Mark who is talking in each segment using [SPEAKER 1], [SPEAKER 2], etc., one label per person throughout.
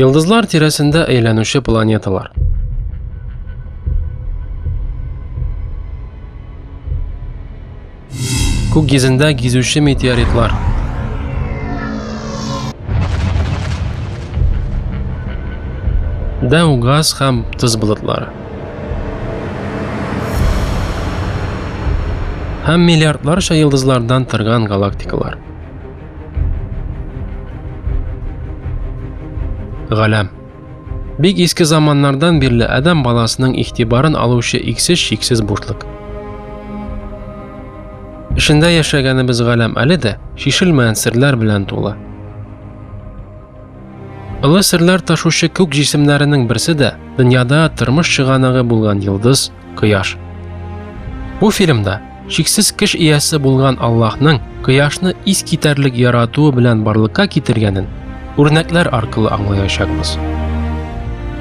[SPEAKER 1] Йолдызлар тирәсендә әйләнүче планеталар. Күк йөзендә гизүче метеоритлар. Дәү газ һәм тоз болытлары. Һәм миллиардларча йылдызлардан торган галактикалар. Галәм. Бик иске заманнардан бирле адам баласының игътибарын алучы иксез шиксез бушлык. Эшендә яшәгәнебез галәм әле дә шишелмәгән серләр белән тулы. Олы серләр ташучы күк җисемнәренең берсе дә дөньяда тормыш чыганагы булган йолдыз Кояш. Бу фильмда шиксез кеш иясе булган Аллаһның кояшны ис китәрлек яратуы белән барлыкка китергәнен үрнәкләр аркылы аңлаячакбыз.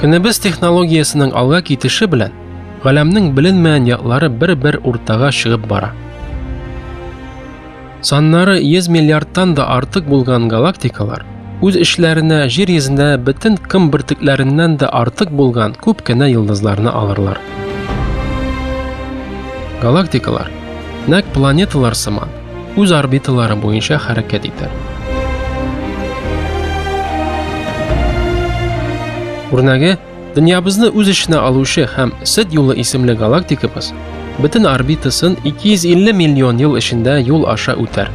[SPEAKER 1] Көнебез технологиясенең алга китеше белән галәмнең беленмәгән яклары бер-бер уртага чыгып бара. Саннары 100 миллиардтан да артык булган галактикалар үз эшләренә Җир йөзендә бөтен кым бөртекләреннән дә артык булган күп кенә йолдызларны алырлар. Галактикалар нәкъ планеталар сыман үз орбиталары буенча хәрәкәт итә. Үрнәге Дөньябызны үз эченә алучы һәм Сөт юлы исемле галактикабыз бөтен орбитасын 250 миллион ел эчендә юл аша үтәр.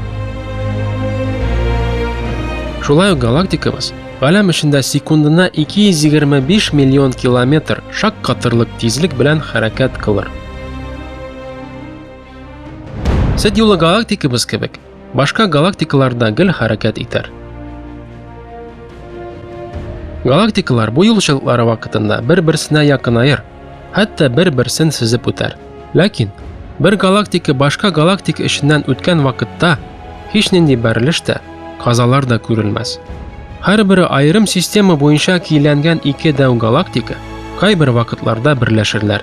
[SPEAKER 1] Шулай ук галактикабыз галәм эчендә секундына 225 миллион километр шак катырлык тизлек белән хәрәкәт кылыр. Сөт юлы галактикабыз кебек Башка галактикалар да гел хәрәкәт итәр. Галактикалар бу юлчылыклары вакытында бер-берсенә якынаер, хәтта бер-берсен сизеп үтәр. Ләкин бер галактика башка галактика эченнән үткән вакытта һич нинди бәрелеш тә, казалар да күрелмәс. Һәрбере аерым система буенча кийләнгән ике дәү галактика кайбер вакытларда берләшерләр.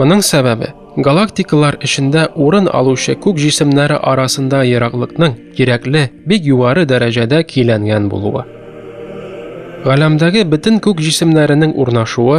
[SPEAKER 1] Моның сәбәбе галактикалар эчендә урын алучы күк җисемнәре арасында ераклыкның кирәкле бик югары дәрәҗәдә киләнгән булуы. Галәмдәге бөтен күк җисемнәренең урнашуы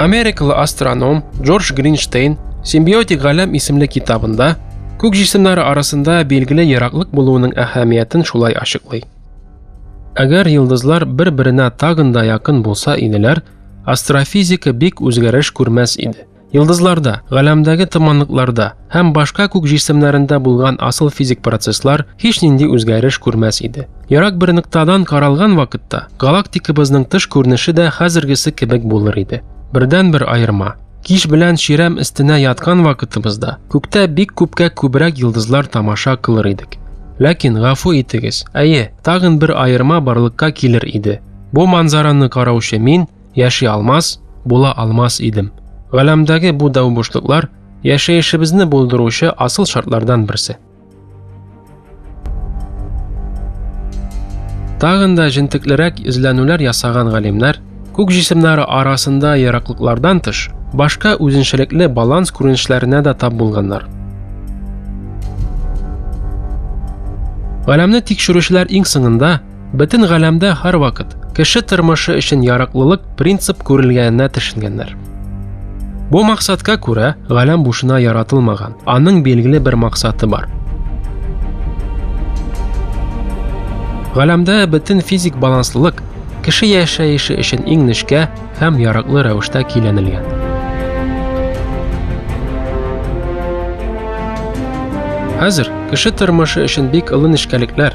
[SPEAKER 1] Америкалы астроном Джордж Гринштейн Симбиотик галәм исемле китабында күк җисемнәре арасында билгеле ераклык булуының әһәмиятен шулай ачыклый. Әгәр йолдызлар бер-беренә тагын да якын булса иделәр, астрофизика бик үзгәреш күрмәс иде. Йылдызларда, галәмдәге томанлыкларда һәм башка күк җисемнәрендә булган асыл физик процесслар һич нинди үзгәреш күрмәс иде. Ярак бер ноктадан каралган вакытта галактикабызның тыш күренеше дә хәзергесе кебек булыр иде. Бердән-бер аерма, Кич белән чирәм өстенә яткан вакытыбызда күктә бик күпкә күбрәк йылдызлар тамаша кылыр идек. Ләкин гафу итегез, әйе, тагын бер аерма барлыкка килер иде. Бу манзараны караучы мин яши алмас, була алмас идем. Галәмдәге бу дәү бушлыклар яшәешебезне булдыручы асыл шартлардан берсе. Тагын да җентеклерәк эзләнүләр ясаган галимнәр күк җисемнәре арасында яраклыклардан тыш, башка үзенчәлекле баланс күренешләренә дә тап булганнар. Галәмне тикшерүчеләр иң соңында Бөтен галәмдә һәрвакыт кеше тормышы өчен яраклылык принцип күрелгәненә төшенгәннәр. Бу максатка күрә галәм бушына яратылмаган, аның билгеле бер максаты бар. Галәмдә бөтен физик баланслылык кеше яшәеше өчен иң нечкә һәм яраклы рәвештә киләнелгән. Хәзер кеше тормышы өчен бик олы нечкәлекләр,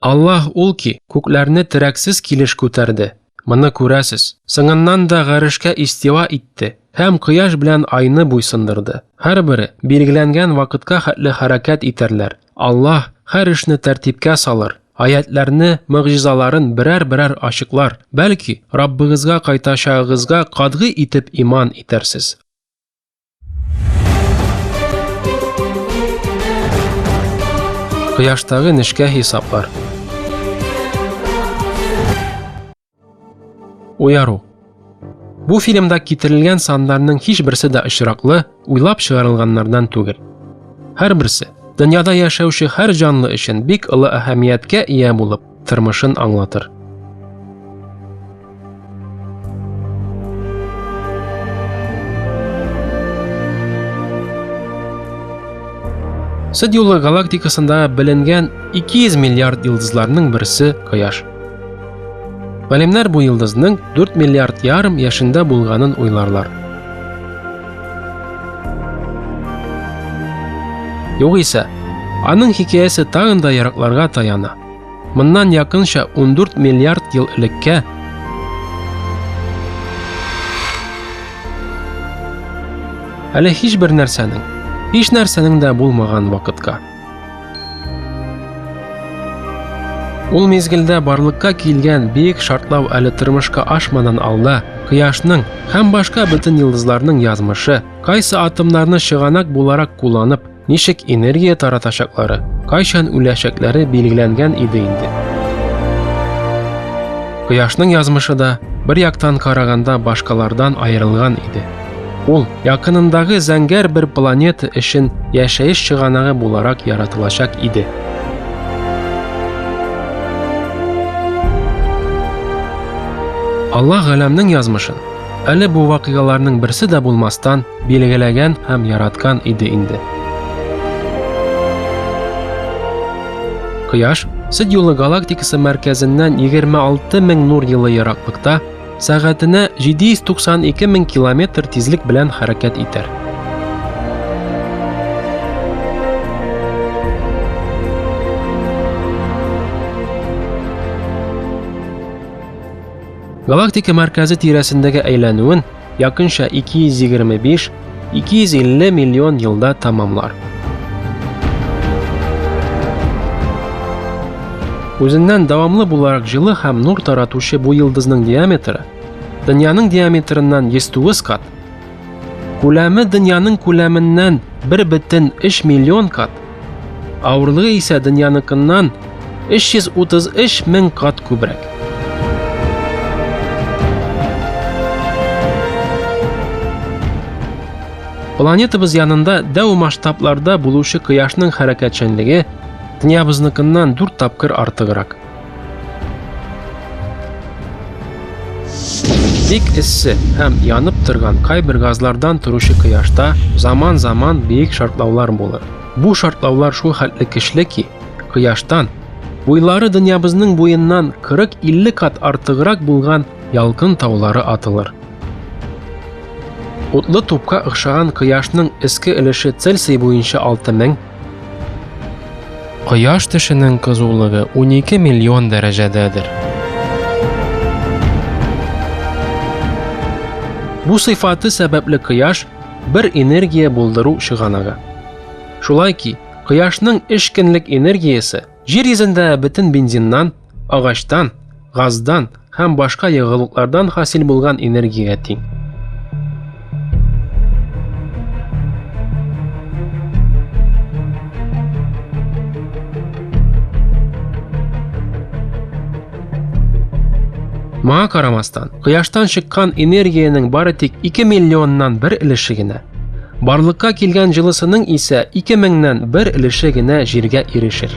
[SPEAKER 1] Аллаһ ул ки, күкләрне терәксез килеш күтәрде. Моны күрәсез. Соңыннан да гарешкә истива итте һәм кояш белән айны буйсындырды. Һәрбере билгеләнгән вакытка хәтле хәрәкәт итәрләр. Аллаһ һәр эшне тәртипкә салыр, аятләрне, мөгъҗизаларын берәр-берәр ачыклар, бәлки, Раббыгызга кайтачагыгызга катгый итеп иман итәрсез. Кояштагы нечкә хисаплар. Уяру. Бу фильмда китерелгән сандарның һичберсе дә очраклы, уйлап чыгарылганнардан түгел. Һәрберсе дөньяда яшәүче һәр җанлы өчен бик олы әһәмияткә ия булып, тормышын аңлатыр. Сөт юлы галактикасында беленгән 200 миллиард йолдызларның берсе Кояш. Галимнәр бу йолдызның 4 миллиард ярым яшендә булганын уйларлар. Югыйсә, аның хикәясе тагын да яракларга таяна. Моннан якынча 14 миллиард ел элеккә Әле һичбер нәрсәнең, һич нәрсәнең дә булмаган вакытка. Ул мезгелдә барлыкка килгән бик шартлау әле тормышка ашмадан алда, кояшның һәм башка бөтен йолдызларның язмышы, кайсы атомнарны чыганак буларак кулланып, ничек энергия таратачаклары, кайчан үләчәкләре билгеләнгән иде инде. Кояшның язмышы да бер яктан караганда башкалардан аерылган иде. Ул якынындагы зәңгәр бер планета өчен яшәеш чыганагы буларак яратылачак иде. Аллаһ галәмнең язмышын әле бу вакыйгаларның берсе дә булмастан билгеләгән һәм яраткан иде инде. Кояш Сид юлы галактикасы мәркәзеннән 26 мең нур елы ераклыкта Сәгатенә 792 мең километр тизлек белән хәрәкәт итәр. Галактика мәркәзе тирәсендәге әйләнүен якынча 225 250 миллион елда тамамлар. Үзеннән дәвамлы буларак җылы һәм нур таратучы бу йолдызның диаметры дөньяның диаметрыннан 109 кат, күләме дөньяның күләменнән 1,3 миллион кат Авырлыгы исә дөньяныкыннан 333 мең кат күбрәк. Планетабыз янында дәү масштабларда булучы кояшның хәрәкәтчәнлеге дөньябызныкыннан дүрт тапкыр артыграк. Бик эссе һәм янып торган кайбер газлардан торучы кояшта заман-заман биек шартлаулар булыр. Бу шартлаулар шул хәтле көчле ки, кояштан буйлары дөньябызның буеннан 40-50 кат артыграк булган ялкын таулары атылыр. Утлы тупка охшаган кояшның эске өлеше Цельсий буенча 6000, Кояш төшенең кызулыгы 12 миллион дәрәҗәдәдер. Бу сыйфаты сәбәпле кояш бер энергия булдыру чыганагы. Шулай ки, кояшның эшкенлек энергиясе Җир йөзендә бөтен бензиннан, агачтан, газдан һәм башка ягулыклардан хасил булган энергиягә тиң. Моңа карамастан, кояштан чыккан энергиянең бары тик 2 миллионнан бер өлеше генә Барлыкка килгән җылысының исә 2000-нән бер өлеше генә җиргә ирешер.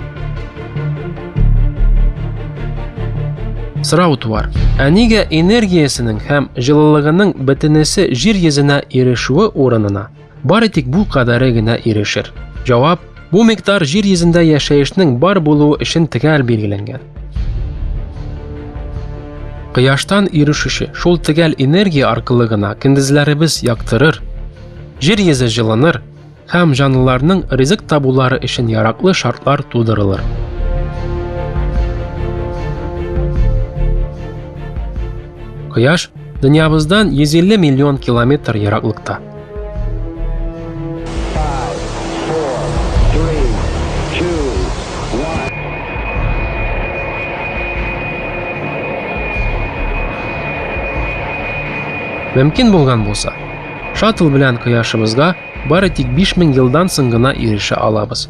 [SPEAKER 1] Сорау туар. Ә нигә энергиясенең һәм җылылыгының бөтенесе җир йөзенә ирешүе урынына бары тик бу кадәре генә ирешер? Җавап Бу микъдар җир йөзендә яшәешнең бар булуы өчен төгәл билгеләнгән. Кояштан ирешүче шул төгәл энергия аркылы гына көндезләребез яктырыр, җир йөзе җылыныр һәм җанлыларның ризык табулары өчен яраклы шартлар тудырылыр. Кояш Дөньябыздан 150 миллион километр ераклыкта. Мөмкин булган булса, шаттл белән кояшыбызга бары тик 5000 елдан соң гына ирешә алабыз.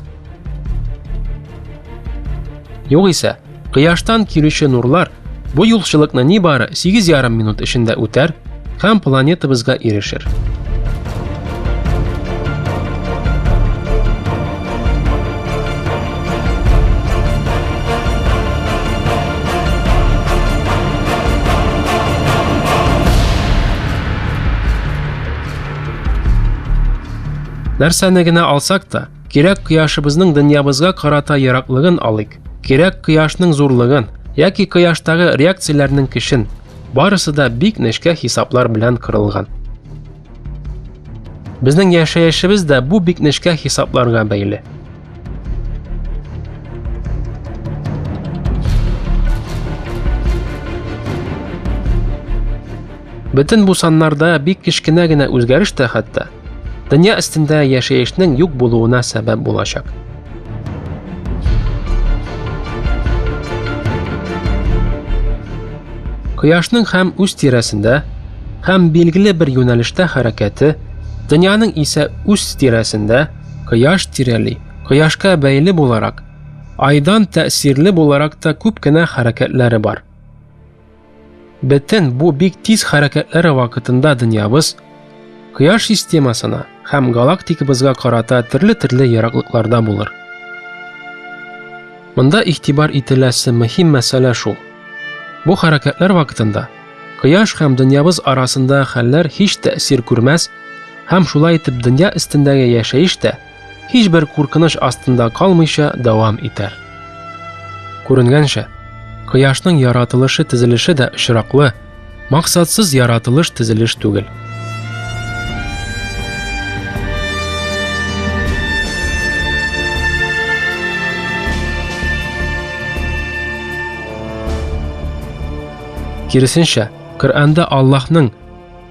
[SPEAKER 1] Югыйсә, Кояштан килүче нурлар бу юлчылыкны нибары 8,5 минут эчендә үтәр һәм планетабызга ирешер. Нәрсәне генә алсак та, Кирәк кояшыбызның дөньябызга карата яраклыгын алыйк. Кирәк кояшның зурлыгын яки кояштагы реакцияләрнең кешен. Барысы да бик нечкә хисаплар белән кырылган. Безнең яшәешебез дә бу бик нечкә хисапларга бәйле. Бөтен бу саннарда бик кечкенә генә үзгәреш тә хәтта Дөнья өстендә яшәешнең юк булуына сәбәп булачак. Кояшның һәм үз тирәсендә һәм билгеле бер юнәлештә хәрәкәте, дөньяның исә үз тирәсендә кояш тирәли, кояшка бәйле буларак, айдан тәэсирле буларак та күп кенә хәрәкәтләре бар. Бөтен бу бик тиз хәрәкәтләре вакытында дөньябыз Кояш системасына һәм галактикабызга карата төрле-төрле ераклыкларда булыр. Монда игътибар ителәсе мөһим мәсьәлә шул. Бу хәрәкәтләр вакытында Кояш һәм дөньябыз арасында хәлләр һич тәэсир күрмәс һәм шулай итеп дөнья өстендәге яшәеш тә һичбер куркыныч астында калмыйча дәвам итәр. Күренгәнчә, кояшның яратылышы тезелеше дә очраклы, максатсыз яратылыш тезелеш түгел. Киресенчә, Коръәндә Аллаһның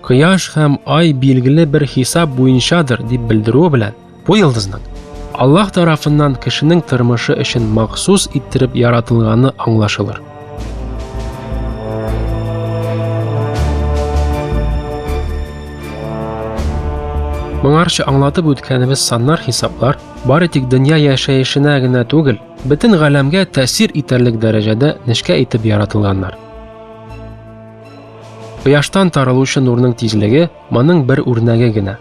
[SPEAKER 1] кояш һәм ай билгеле бер хисап буенчадыр дип белдерүе белән бу йолдызның аллаһ тарафыннан кешенең тормышы өчен махсус иттереп яратылганы аңлашылыр моңарчы аңлатып үткәнебез саннар хисаплар бары тик дөнья яшәешенә генә түгел бөтен галәмгә тәэсир итәрлек дәрәҗәдә нечкә итеп яратылганнар Кояштан таралучы нурның тизлеге моның бер үрнәге генә.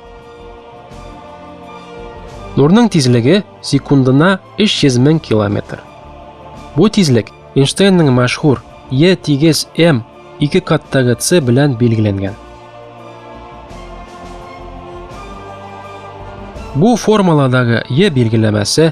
[SPEAKER 1] Нурның тизлеге секундына 300 мең километр. Бу тизлек Эйнштейнның мәшһүр Е тигез М ике каттагы С белән билгеләнгән. Бу формуладагы Е билгеләмәсе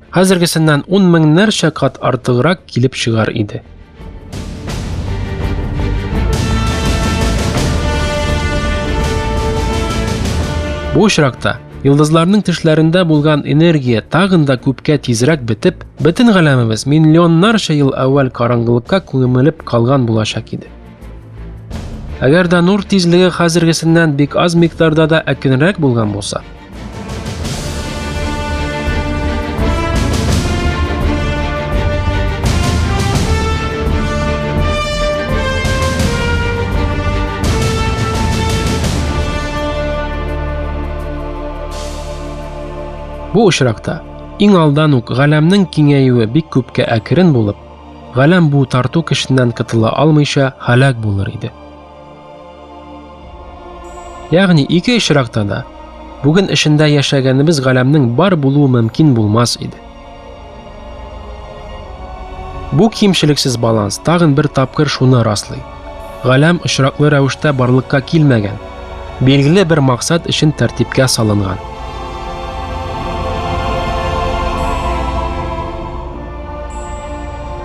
[SPEAKER 1] Хәзергесеннән ун меңнәрчә кат артыграк килеп чыгар иде. Бу очракта Йолдызларның тешләрендә булган энергия тагын да күпкә тизрәк бетеп, бөтен галәмебез миллионнарча ел әүвәл караңгылыкка күмелеп калган булачак иде. Әгәр дә нур тизлеге хәзергесеннән бик аз микъдарда да әкренрәк булган булса, Бу очракта иң алдан ук галәмнең киңәюе бик күпкә әкрен булып, галәм бу тарту көченнән котыла алмыйча һәлак булыр иде. Ягъни ике очракта да бүген эшендә яшәгәнебез галәмнең бар булуы мөмкин булмас иде. Бу кимчелексез баланс тагын бер тапкыр шуны раслый. Галәм очраклы рәвештә барлыкка килмәгән, билгеле бер максат өчен тәртипкә салынган.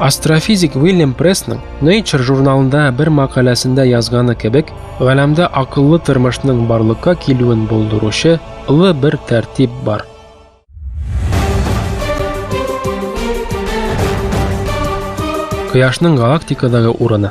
[SPEAKER 1] Астрофизик Уильям Прессның Nature журналында бер мәкаләсендә язганы кебек, галәмдә акыллы тормышның барлыкка килүен булдыручы ылы бер тәртип бар. Кояшның галактикадагы урыны.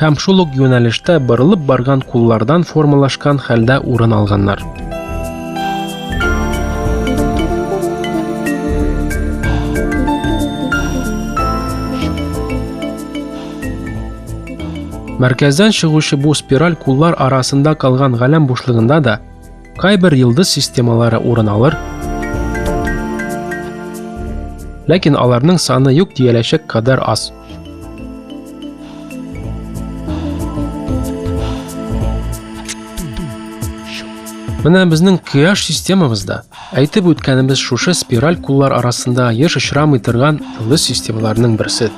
[SPEAKER 1] Һәм шул ук юнәлештә борылып барган куллардан формалашкан хәлдә урын алганнар. Мәркәздән чыгучы бу спираль куллар арасында калган галәм бушлыгында да Кайбер йолдыз системалары урын алыр, ләкин аларның саны юк дияләчәк кадәр аз. Менә безнең Кыяш системабызда әйтеп үткәнебез шушы спираль куллар арасында еш очрамый торган ылы системаларның берсе.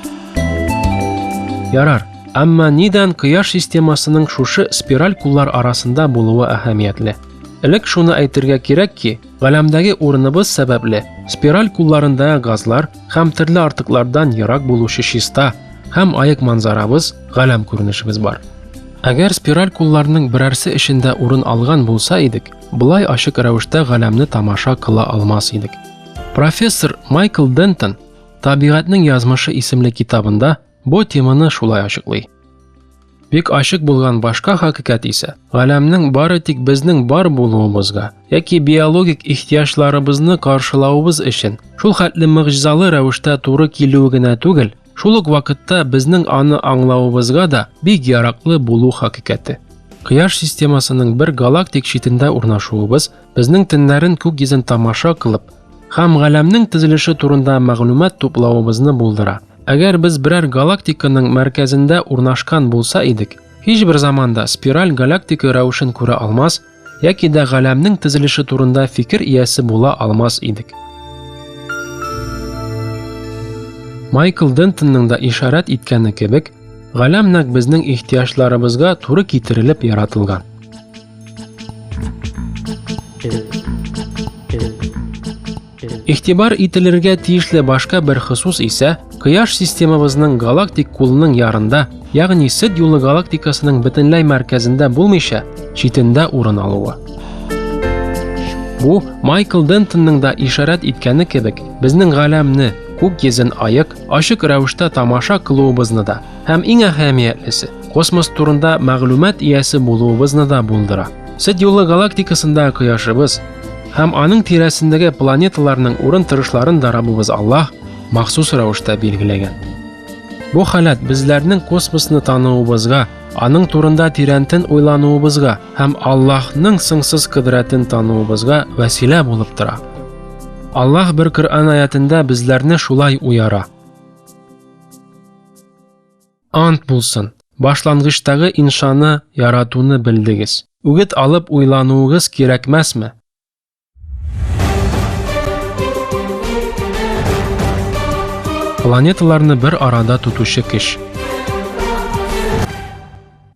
[SPEAKER 1] Ярар, Әмма нидән Кояш системасының шушы спираль куллар арасында булуы әһәмиятле? Элек шуны әйтергә кирәк ки, галәмдәге урыныбыз сәбәпле спираль кулларында газлар һәм төрле артыклардан ерак булучы чиста һәм аек манзарабыз, галәм күренешебез бар. Әгәр спираль кулларның берәрсе эчендә урын алган булса идек, былай ачык рәвештә галәмне тамаша кыла алмас идек. Профессор Майкл Дентон Табигатьнең язмышы исемле китабында бу теманы шулай ачыклый. Бик ачык булган башка хакыйкать исә, галәмнең бары тик безнең бар булуыбызга яки биологик ихтиҗларыбызны каршылавыбыз өчен шул хәтле мөгъҗизалы рәвештә туры килүе генә түгел, шул ук вакытта безнең аны аңлавыбызга да бик яраклы булу хакыйкате. Кояш системасының бер галактик читендә урнашуыбыз Безнең төннәрен күк йөзен тамаша кылып һәм галәмнең төзелеше турында мәгълүмат туплавыбызны булдыра. Әгәр без берәр галактиканың мәркәзендә урнашкан булса идек, һичбер заманда спираль галактика рәвешен күрә алмас яки дә галәмнең төзелеше турында фикер иясе була алмас идек. Майкл Дентонның да ишарәт иткәне кебек, галәм нәкъ безнең ихтыяҗларыбызга туры китерелеп яратылган. Игътибар ителергә тиешле башка бер хосус исә Кояш системабызның галактик кулының ярында, ягъни Сид юлы галактикасының бөтенләй мәркәзендә булмыйча, читендә урын алуы. Бу Майкл Дентонның да ишарәт иткәне кебек, безнең галәмне, күк йөзен аек, ачык рәвештә тамаша кылуыбызны да Һәм иң әһәмиятлесе, космос турында мәгълүмат иясе булуыбызны да булдыра. Сөт юлы галактикасында кояшыбыз һәм аның тирәсендәге планеталарның урын торышларын да Раббыбыз Аллаһ махсус рәвештә билгеләгән. Бу халат безләрнең космосны тануыбызга, аның турында тирәнтен уйлануыбызга һәм Аллаһның сыңсыз кодрәтен тануыбызга вәсилә булып тора. Аллаһ бер Коръән аятында безләрне шулай уяра. Ант булсын, башлангычтагы иншаны яратуны белдегез. Үгет алып уйлануыгыз кирәкмәсме? Планеталарны бер арада тотучы кеш.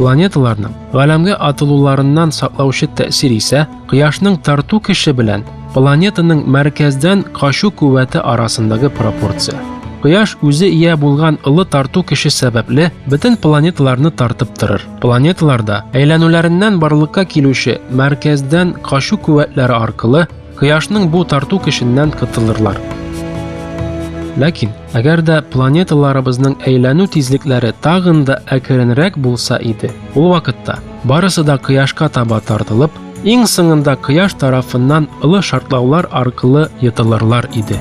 [SPEAKER 1] Планеталарның галәмгә атылуларыннан саклаучы тәэсир исә кояшның тарту көче белән планетаның мәркәздән качу куәте арасындагы пропорция. Кояш үзе ия булган ылы тарту көче сәбәпле бөтен планеталарны тартып торыр. Планеталарда әйләнүләреннән барлыкка килүче мәркәздән качу куәтләре аркылы кояшның бу тарту көченнән котылырлар. Ләкин Әгәр дә планеталарыбызның әйләнү тизлекләре тагын да әкренрәк булса иде, ул вакытта барысы да кояшка таба тартылып, иң соңында кояш тарафыннан ылы шартлаулар аркылы йотылырлар иде.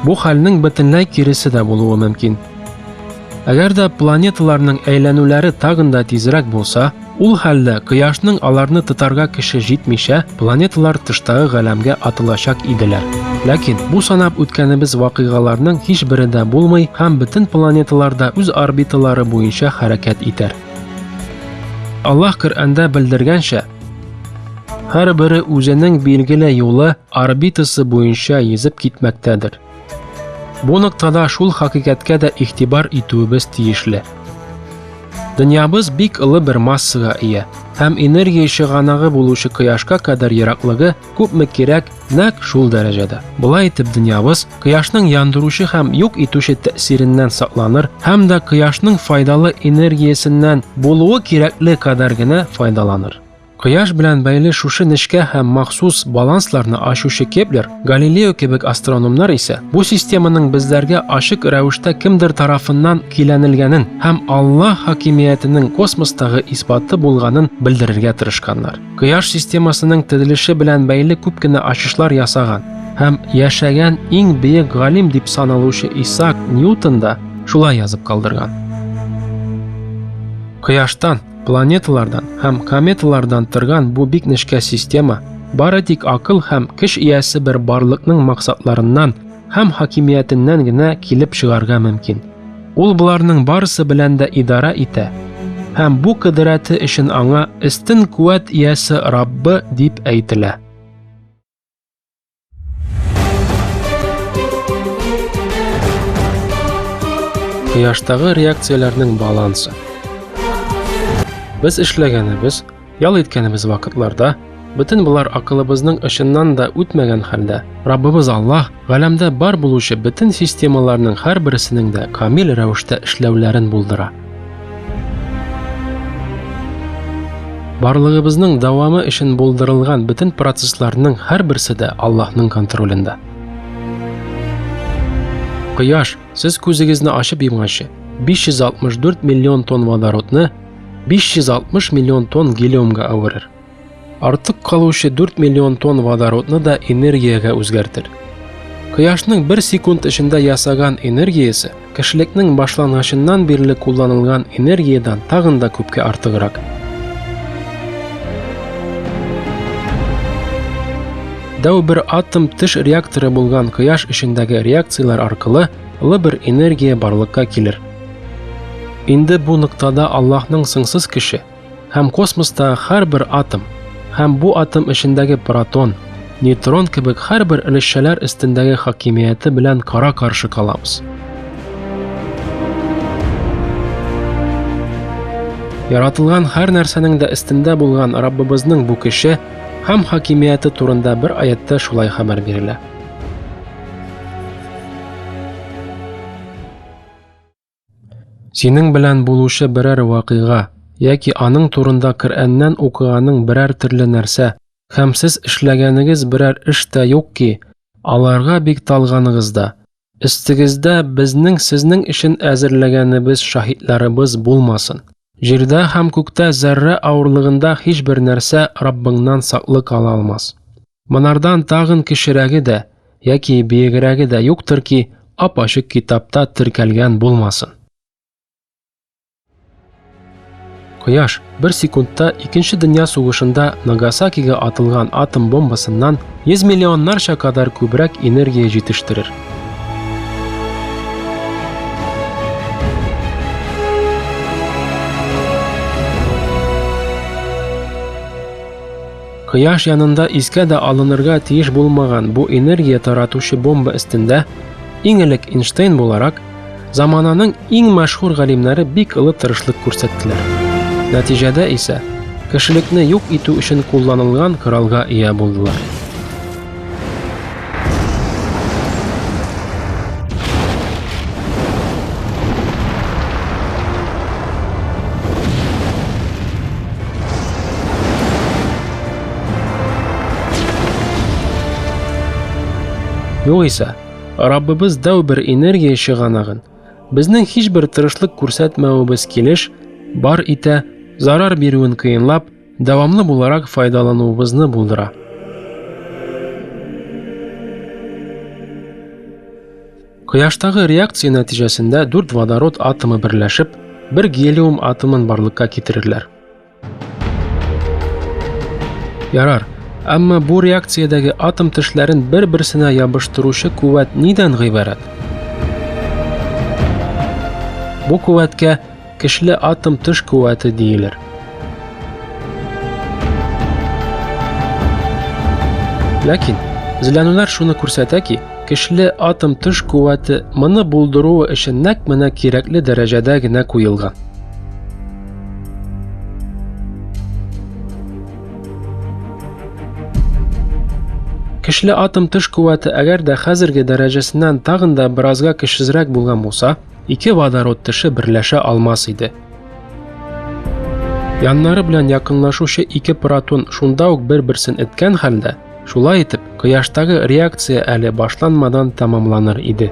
[SPEAKER 1] Бу хәлнең бөтенләй киресе дә булуы мөмкин. Әгәр дә планеталарның әйләнүләре тагын да тизрәк булса, ул хәлдә Кояшның аларны тотарга көче җитмичә, планеталар тыштагы галәмгә атылачак иделәр. Ләкин бу санап үткәнебез вакыйгаларның һичбере дә булмый һәм бөтен планеталар да үз орбиталары буенча хәрәкәт итәр. Аллаһ Коръәндә белдергәнчә, һәрбере үзенең билгеле юлы орбитасы буенча йөзеп китмәктәдер. Бу ноктада шул хакыйкатькә дә игътибар итүебез тиешле. Дөньябыз бик олы бер массага ия һәм энергия чыганагы булучы кояшка кадәр ераклыгы күпме кирәк, нәк шул дәрәҗәдә. Болай итеп дөньябыз кояшның яндыручы һәм юк итүче тәэсиреннән сакланыр һәм дә кояшның файдалы энергиясеннән булуы кирәкле кадәр генә файдаланыр. Кояш белән бәйле шушы нечкә һәм махсус балансларны ачучы Кеплер, Галилео кебек астрономнар исә бу системаның безләргә ачык рәвештә кемдер тарафыннан көйләнелгәнен һәм Аллаһ хакимиятенең космостагы исбаты булганын белдерергә тырышканнар. Кояш системасының төзелеше белән бәйле күп кенә ачышлар ясаган һәм яшәгән иң бөек галим дип саналучы Исаак Ньютон да шулай язып калдырган. Кояштан, планеталардан һәм кометалардан торган бу бик нечкә система бары тик акыл һәм көч иясе бер барлыкның максатларыннан һәм хакимиятеннән генә килеп чыгарга мөмкин. Ул боларның барысы белән дә идара итә, һәм бу кыдырәте өчен аңа өстен куәт иясе Раббы дип әйтелә. Кояштагы реакцияләрнең балансы. Без эшләгәнебез, Ял иткәнебез вакытларда бөтен болар акылыбызның очыннан да үтмәгән хәлдә Раббыбыз Аллаһ галәмдә бар булучы бөтен системаларның һәрберсенең дә камил рәвештә эшләүләрен булдыра. Барлыгыбызның дәвамы өчен булдырылган бөтен процессларның һәрберсе дә Аллаһның контролендә. Кояш, сез күзегезне ачып йомганчы, 564 миллион тонн водородны 560 миллион тонн гелиумга әверер. Артык калучы 4 миллион тонн водородны да энергиягә үзгәртер. Кояшның бер секунд эчендә ясаган энергиясе кешелекнең башлангычыннан бирле кулланылган энергиядән тагын да күпкә артыграк. Дәү бер атом теш реакторы булган кояш эчендәге реакцияләр аркылы лы бер энергия барлыкка килер. Инде бу ноктада Аллаһның сыңсыз кеше һәм космостагы һәрбер атом һәм бу атом эчендәге протон, нейтрон кебек һәрбер өлешчәләр өстендәге хакимияте белән кара-каршы калабыз. Яратылган һәр нәрсәнең дә өстендә булган Раббыбызның бу кеше һәм хакимияте турында бер аятта шулай хәбәр бирелә. Синең белән булучы берәр вакыйга яки аның турында Коръәннән укыганың берәр төрле нәрсә һәм сез эшләгәнегез берәр эш тә юк ки, аларга бик талганыгыз да. Өстегездә безнең сезнең өчен әзерләгәнебез шаһитларыбыз булмасын. Җирдә һәм күктә зәррә авырлыгында һичбер нәрсә Раббыңнан саклык ала алмас. Монардан тагын кечерәге дә яки биегрәге дә юктыр ки, ап-ачык китапта теркәлгән булмасын. Кояш бер секундта икенче дөнья сугышында Нагасакига атылган атом бомбасыннан 100 миллионнарча кадәр күбрәк энергия җитештерер. Кояш янында искә дә алынырга тиеш булмаган бу энергия таратучы бомба өстендә иң элек Эйнштейн буларак замананың иң мәшһүр галимнәре бик олы тырышлык күрсәттеләр. Нәтиҗәдә исә кешелекне юк итү өчен кулланылган коралга ия булдылар. Югыйсә, Раббыбыз дәү бер энергия чыганагын, безнең һичбер тырышлык күрсәтмәвебез килеш, бар итә, зарар бирүен кыенлап, дәвамлы буларак файдалануыбызны булдыра. Кояштагы реакция нәтиҗәсендә дүрт водород атомы берләшеп, бер гелиум атомын барлыкка китерерләр. Ярар, әмма бу реакциядәге атом тешләрен бер-берсенә ябыштыручы куәт нидән гыйбарәт? Бу куәткә Көчле атом төш куәте диелер. Ләкин Зләнүләр шуны күрсәтә ки, көчле атом төш куәте моны булдыруы өчен нәкъ менә кирәкле дәрәҗәдә генә куелган. Көчле атом төш куәте әгәр дә хәзерге дәрәҗәсеннән тагын да беразга көчсезрәк булган булса, ике водород теше берләшә алмас иде. Яннары белән якынлашучы ике протон шунда ук бер-берсен эткән хәлдә, шулай итеп, кояштагы реакция әле башланмадан тәмамланыр иде.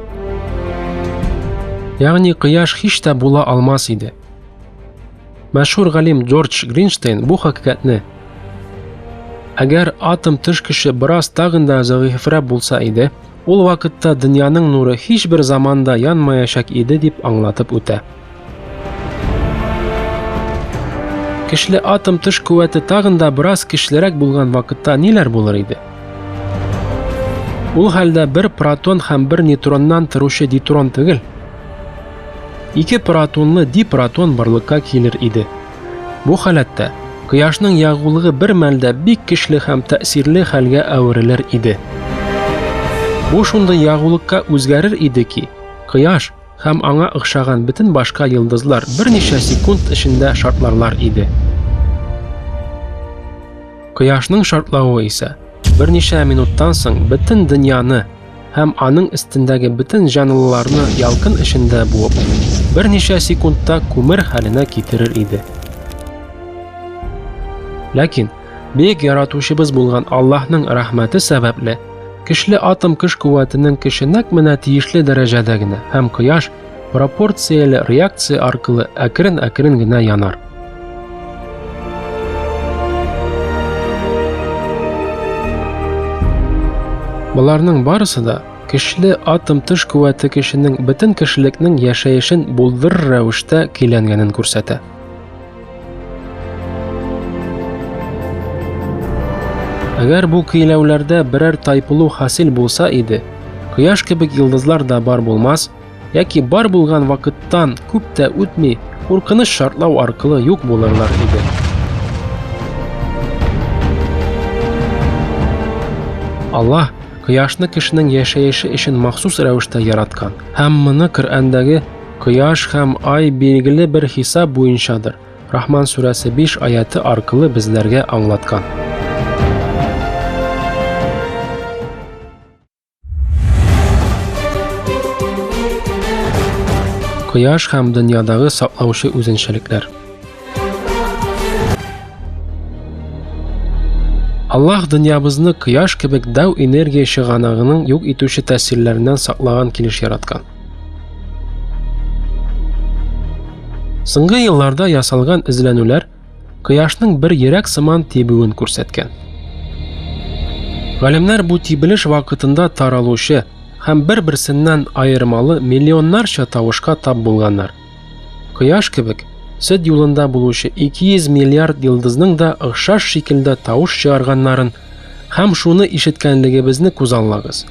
[SPEAKER 1] Ягъни кояш һич тә була алмас иде. Мәшһүр галим Джордж Гринштейн бу хакыйкатьне Әгәр атом тышкычы бераз тагын да зәгыйфьрәк булса иде, Ул вакытта дөньяның нуры һичбер заманда янмаячак иде дип аңлатып үтә. Кишле атом тыш куәте тагын да бераз кишлерәк булган вакытта ниләр булыр иде? Ул хәлдә бер протон һәм бер нейтроннан торучы дитрон түгел, ике протонлы дипротон барлыкка килер иде. Бу халәттә кояшның ягулыгы бер мәлдә бик көчле һәм тәэсирле хәлгә әверелер иде. Бу шундый ягулыкка үзгәрер иде ки, кояш һәм аңа охшаган бөтен башка йолдызлар берничә секунд эчендә шартларлар иде. Кояшның шартлавы исә берничә минуттан соң бөтен дөньяны һәм аның өстендәге бөтен җанлыларны ялкын эчендә буып, берничә секундта күмер хәленә китерер иде. Ләкин бөек яратучыбыз булган Аллаһның рәхмәте сәбәпле, көчле атом көч куәтенең көче нәкъ менә тиешле дәрәҗәдә генә һәм кояш пропорцияле реакция аркылы әкрен-әкрен генә янар. Боларның барысы да кешеле атом тыш куәте кешенең бөтен кешелекнең яшәешен булдыр рәвештә көйләнгәнен күрсәтә. Әгәр бу көйләүләрдә берәр тайпылу хасил булса иде, кояш кебек йолдызлар да бар булмас, яки бар булган вакыттан күп тә үтми куркыныч шартлау аркылы юк булырлар иде. Аллаһ кояшны кешенең яшәеше өчен махсус рәвештә яраткан. Һәм моны Коръәндәге кояш һәм ай билгеле бер хисап буенчадыр. Рахман сүрәсе 5 аяты аркылы безләргә аңлаткан. Кояш һәм дөньядагы саклаучы үзенчәлекләр. Аллаһ дөньябызны кояш кебек дәү энергия чыганагының юк итүче тәсилләреннән саклаган килеш яраткан. Соңгы елларда ясалган эзләнүләр кояшның бер йөрәк сыман тибүен күрсәткән. Галимнәр бу тибелеш вакытында таралучы һәм бер-берсеннән аермалы миллионнарча тавышка тап булганнар. Кояш кебек сөт юлында булучы 200 миллиард йылдызның да охшаш шикелдә тавыш чыгарганнарын һәм шуны ишеткәнлегебезне күзаллагыз.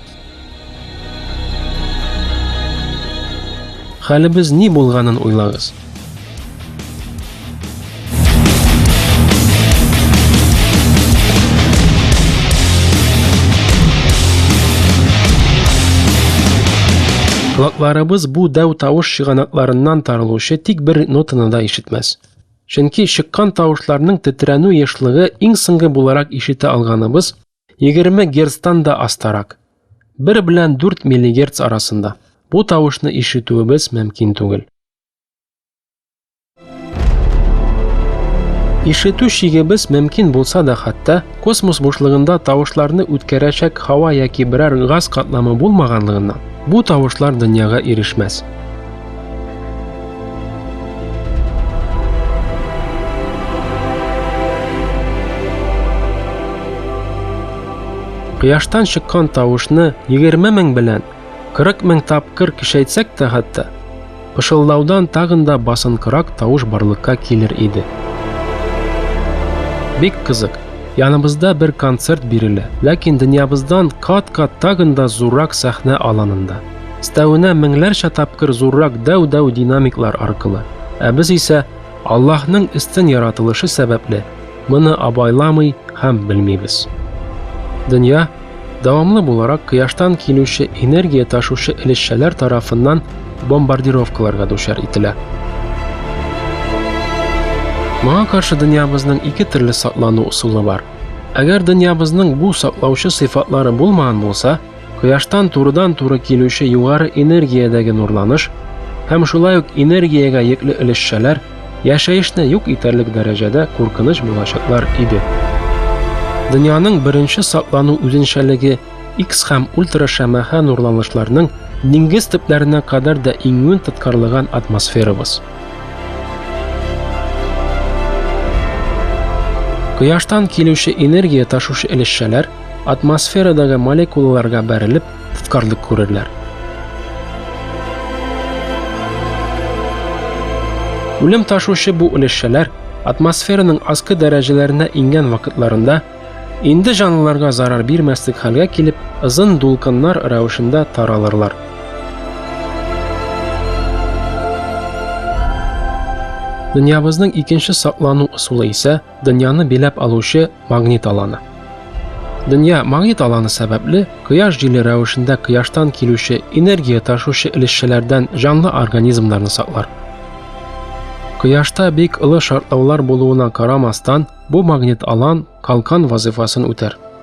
[SPEAKER 1] Хәлебез ни булганын уйлагыз. Колакларыбыз бу дәү тавыш чыганакларыннан тарылучы тик бер нотаны да ишетмәс. Чөнки чыккан тавышларның тетрәнү ешлыгы иң соңгы буларак ишетә алганыбыз 20 герцтан да астарак. 1 белән 4 миллигерц арасында. Бу тавышны ишетүебез мөмкин түгел. Ишетү шигебез мөмкин булса да хәтта космос бушлыгында тавышларны үткәрәчәк һава яки берәр газ катламы булмаганлыгыннан бу тавышлар дөньяга ирешмәс. Кояштан чыккан тавышны 20 мең белән 40 мең тапкыр кишәйтсәк тә хәтта, пышылдаудан тагын да басынкырак тавыш барлыкка килер иде. Бик кызык, яныбызда бер концерт бирелә, ләкин дөньябыздан кат-кат тагын да зуррак сәхнә аланында. Өстәвенә меңләрчә тапкыр зуррак дәү-дәү динамиклар аркылы. Ә без исә Аллаһның өстен яратылышы сәбәпле моны абайламый һәм белмибез. Дөнья дәвамлы буларак кояштан килүче энергия ташучы элешчәләр тарафыннан бомбардировкаларга дучар ителә. Моңа каршы дөньябызның ике төрле саклану ысулы бар. Әгәр дөньябызның бу саклаучы сыйфатлары булмаган булса, Кояштан турыдан-туры килүче югары энергиядәге нурланыш һәм шулай ук энергиягә йөкле өлешчәләр яшәешне юк итәрлек дәрәҗәдә куркыныч булачаклар иде. Дөньяның беренче саклану үзенчәлеге X һәм ультрашәмәхә нурланышларның диңгез төпләренә кадәр дә иңүен тоткарлаган атмосферабыз. Кояштан килүче энергия ташучы өлешчәләр Атмосферадагы молекулаларга бәрелеп, тоткарлык күрерләр. Үлем ташучы бу өлешчәләр атмосфераның аскы дәрәҗәләренә иңгән вакытларында инде җанлыларга зарар бирмәслек хәлгә килеп, озын дулкыннар рәвешендә таралырлар. Дөньябызның икенче саклану ысулы исә Дөньяны биләп алучы магнит аланы. Дөнья магнит аланы сәбәпле кояш җиле рәвешендә кояштан килүче энергия ташучы элешчәләрдән җанлы организмнарны саклар. Кояшта бик олы шартлаулар булуына карамастан, бу магнит алан калкан вазыйфасын үтәр.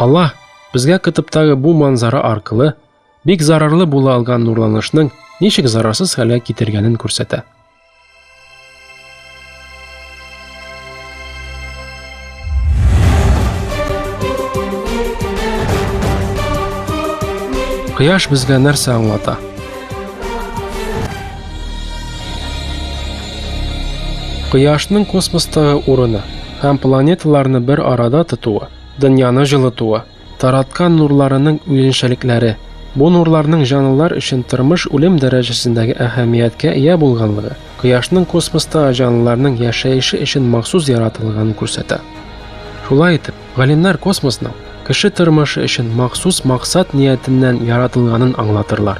[SPEAKER 1] Аллаһ безгә кытыптагы бу манзара аркылы бик зарарлы була алган нурланышның ничек зарарсыз хәлгә китергәнен күрсәтә. Кояш безгә нәрсә аңлата? Кояшның космостагы урыны һәм планеталарны бер арада тотуы, дөньяны җылытуы, Тараткан нурларының үзенчәлекләре. Бу нурларның җанлылар өчен тормыш-үлем дәрәҗәсендәге әһәмияткә ия булганлыгы, Кояшның космоста җанлыларның яшәеше өчен махсус яратылганын күрсәтә. Шулай итеп, галимнәр космосның кеше тормышы өчен махсус максат ниятеннән яратылганын аңлатырлар.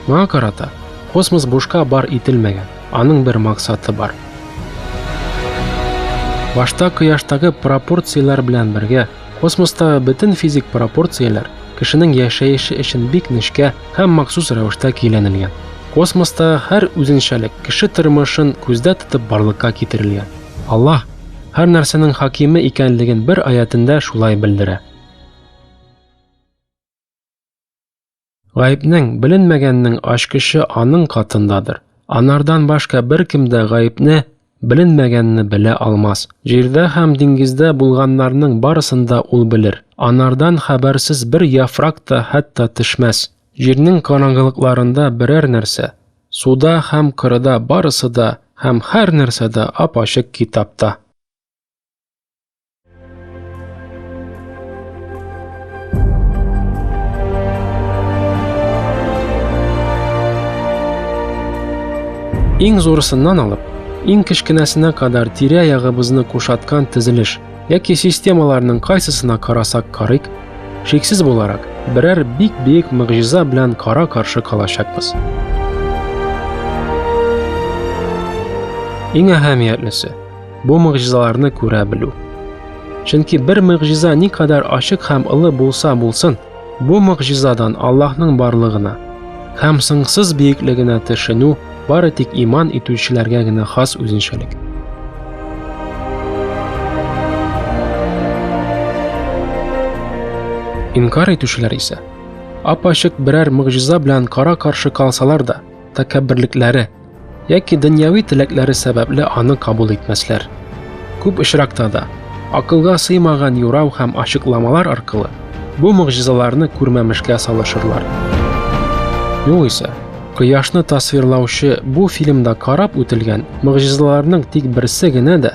[SPEAKER 1] Моңа карата, космос бушка бар ителмәгән, аның бер максаты бар. Башта Кояштагы пропорцияләр белән бергә Космоста бөтен физик пропорцияләр кешенең яшәеше өчен бик нечкә һәм махсус рәвештә көйләнелгән. Космоста һәр үзенчәлек кеше тормышын күздә тотып барлыкка китерелгән. Аллаһ һәр нәрсәнең хакиме икәнлеген бер аятендә шулай белдерә. Гаепнең, беленмәгәннең ачкычы аның катындадыр. Анардан башка беркем дә гаепне, беленмәгәнне белә алмас. Җирдә һәм диңгездә булганнарның барысын да ул белер. Анардан хәбәрсез бер яфрак та хәтта төшмәс. Җирнең караңгылыкларында берәр нәрсә, суда һәм кырыда барысы да һәм һәр нәрсә дә ап-ачык китапта. Иң зурысыннан алып, иң кечкенәсенә кадәр тирә-ягыбызны кушаткан тезелеш яки системаларның кайсысына карасак карыйк, шиксез буларак, берәр бик биек мөгъҗиза белән кара-каршы калачакбыз. Иң әһәмиятлесе, Бу могҗизаларны күрә белү. Чөнки бер могҗиза никадәр ачык һәм олы булса булсын, бу могҗизадан Аллаһның барлыгына һәм соңсыз биеклегенә төшенү бары тик иман итүчеләргә генә хас үзенчәлек. Инкар итүчеләр исә ап-ачык берәр могҗиза белән кара-каршы калсалар да, тәкәбберлекләре Яки дөньяви теләкләре сәбәпле аны кабул итмәсләр. Күп очракта да, акылга сыймаган юрау һәм ачыкламалар аркылы бу могҗизаларны күрмәмешкә салышырлар. Югыйсә, кояшны тасвирлаучы бу фильмда карап үтелгән могҗизаларның тик берсе генә дә